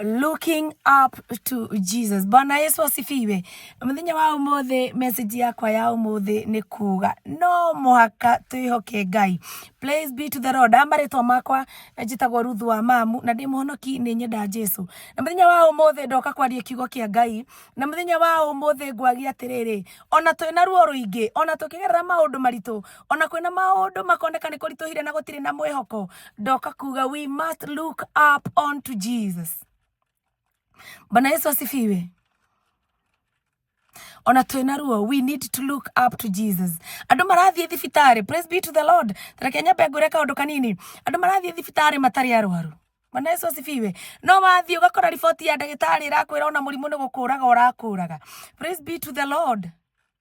looking up to jesus bwana yesu asifiwe mũthenya wa ũmũthĩ message yakwa ya ũmũthĩ nĩ kuga no mũhaka twĩhoke ngai praise be to the lord ama rĩtwa makwa njĩtagwo ruthu wa mamu na ndĩ mũhonoki nĩ nyenda jesu na mũthenya wa ũmũthĩ ndoka kwaria kiugo kĩa ngai na mũthenya wa ũmũthĩ ngwagia atĩrĩrĩ ona twĩna ruo rũingĩ ona tũkĩgerera maũndũ maritũ ona kwĩna maũndũ makoneka nĩ kũritũhire na gũtirĩ na mwĩhoko ndoka kuga we must look up on to jesus bana yesu asifiwe ona twĩna ruo we need to look up to jesus andũ marathiĩ thibitarĩ praise be to the lord tareke nyambe ngwĩre kaũndũ kanini andũ marathiĩ thibitarĩ matarĩ arwaru Bwana Yesu asifiwe. No wathiĩ ũgakora riboti ya ndagĩtarĩ ĩrakwĩra ona mũrimũ nĩ gũkũraga ũrakũraga. Praise be to the Lord.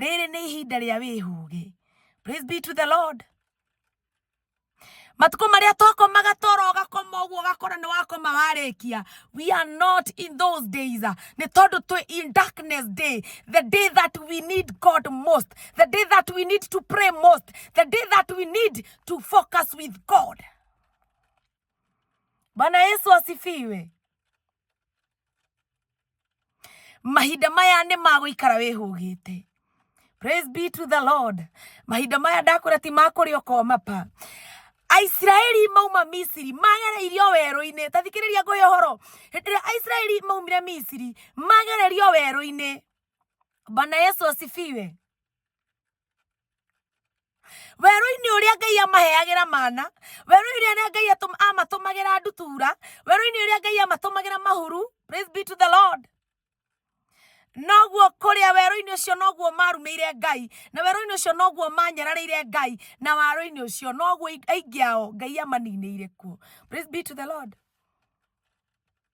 rĩrĩ nĩ ihinda rĩa wĩhũgĩ praise be to the lord matukũ marĩa twakomaga toro ũgakoma ũguo ũgakora nĩ wakoma warĩkia we are not in those days nĩ tondũ twĩ in darkness day the day that we need god most the day that we need to pray most the day that we need to focus with god bwana yesu asifiwe mahinda maya nĩ magũikara wĩhũgĩte praise be to the lord mahinda maya ndakwĩra ti makũrĩa ũkomapa aisiraeli mauma misiri magereirio werũ-inĩ ta thikĩrĩria ngũhe ũhoro hĩndĩ ĩrĩa aisiraeli maumire misiri magererio werũ-inĩ bana yesu asifiwe werũ-inĩ ũrĩa ngai amaheagĩra mana werũ-inĩ ũrĩa ngai amatũmagĩra ndutura werũ-inĩ ũrĩa ngai amatũmagĩra mahuru praise be to the lord noguo kũrĩa werũ-inĩ ũcio noguo marumĩire ngai na werũ-inĩ ũcio noguo manyararĩire ngai na werũ-inĩ ũcio noguo aingĩ ao ngai amaninĩire kuo praise be to the lord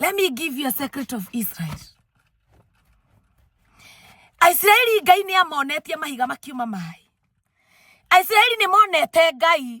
Let me give you a secret of Israel. Aisiraeli Ngai nĩ amonetie mahiga makiuma maĩ. Aisiraeli nĩ monete Ngai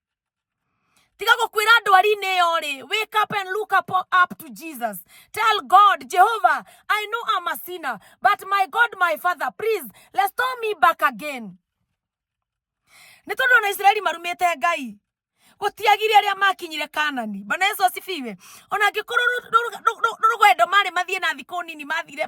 tiga gukwira ndwari-inĩ ĩyo rĩ wake up and look up, up to jesus tell god jehovah i know i'm a sinner but my god my father please restore me back again nĩ tondũ ona isiraeli marumĩte ngai gũtiagire arĩa makinyire kanani bana yesu asifiwe ona angĩkorwo rũgendo marĩ mathiĩ na thikũ nini mathire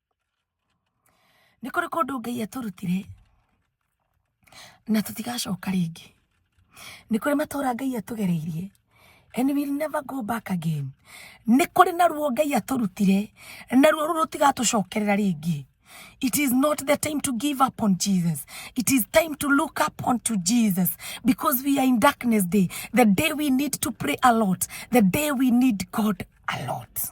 nĩ kũrĩ kũndũ ngai atũrutire na tũtigacoka rĩngĩ nĩ kũrĩ matũra ngai atũgereirie and we will never go back again nĩ kũrĩ na ruo ngai atũrutire na ruo rũu rũtigatũcokerera rĩngĩ It is not the time to give up on Jesus. It is time to look up unto Jesus because we are in darkness day. The day we need to pray a lot. The day we need God a lot.